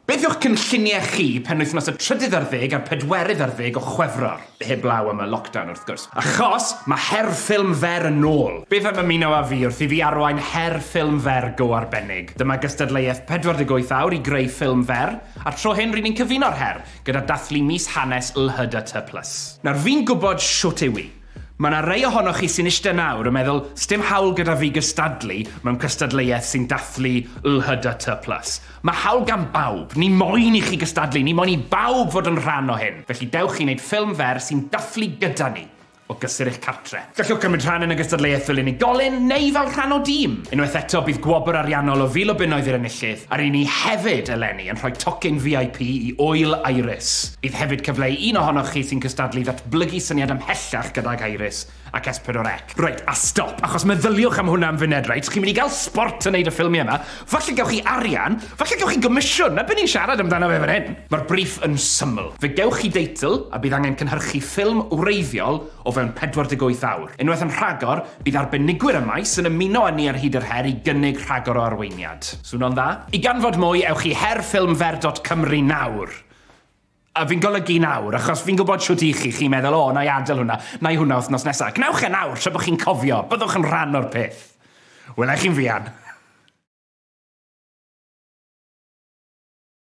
Beth yw'ch cynlluniau chi penwythnos y trydydd ar ddeg a'r pedwerydd ar ddeg o Chwefror? Heblaw am y lockdown wrth gwrs. Achos mae her ffilm fer yn ôl! Beth am ymuno â fi wrth i fi arwain her ffilm fer go arbennig? Dyma gystadleuaeth 48 awr i greu ffilm fer, a'r tro hyn ry'n ni'n cyfuno'r her gyda dathlu mis hanes LHDA Tŷ Plus. Nawr fi'n gwybod shwt yw i. Mae yna rai ohonoch chi sy'n eistedd nawr yn meddwl, 'sdim hawl gyda fi gystadlu mewn cystadleuaeth sy'n dathlu LHDT plus. Mae hawl gan bawb. Ni moyn i chi gystadlu, ni moyn i bawb fod yn rhan o hyn. Felly dewch i wneud ffilm fer sy'n dathlu gyda ni, o gysur eich cartre. Gallwch gymryd rhan yn y gystadleuaeth fel unigolyn neu fel rhan o dîm. Unwaith eto, bydd gwobr ariannol o fil o bunnoedd i'r enillydd, a ry'n ni hefyd eleni yn rhoi tocyn VIP i Ŵyl Iris. Bydd hefyd cyfle i un ohonoch chi sy'n cystadlu Blygu syniad ymhellach gydag Iris ac S4C. Reit, a stop, achos meddyliwch am hwnna am funed, reit? Chi'n mynd i gael sbort yn neud y ffilmiau yma, falle gewch chi arian, falle gewch chi gomisiwn, 'na be ni'n siarad amdano fe fan hyn! Mae'r briff yn syml. Fe gewch chi deitl, a bydd angen cynhyrchu ffilm wreiddiol o fewn 48 awr. Unwaith yn rhagor, bydd arbenigwyr y maes yn ymuno â ni ar hyd yr her i gynnig rhagor o arweiniad. Swno'n dda? I ganfod mwy, ewch i her-ffilm-fer dot cymru nawr! A fi'n golygu nawr, achos fi'n gwybod shwt i chi, chi'n meddwl, o, na i adael hwnna, na i hwnna wythnos nesaf. Gwnewch e nawr, tra bod chi'n cofio, byddwch yn rhan o'r peth. Wela i chi'n fuan.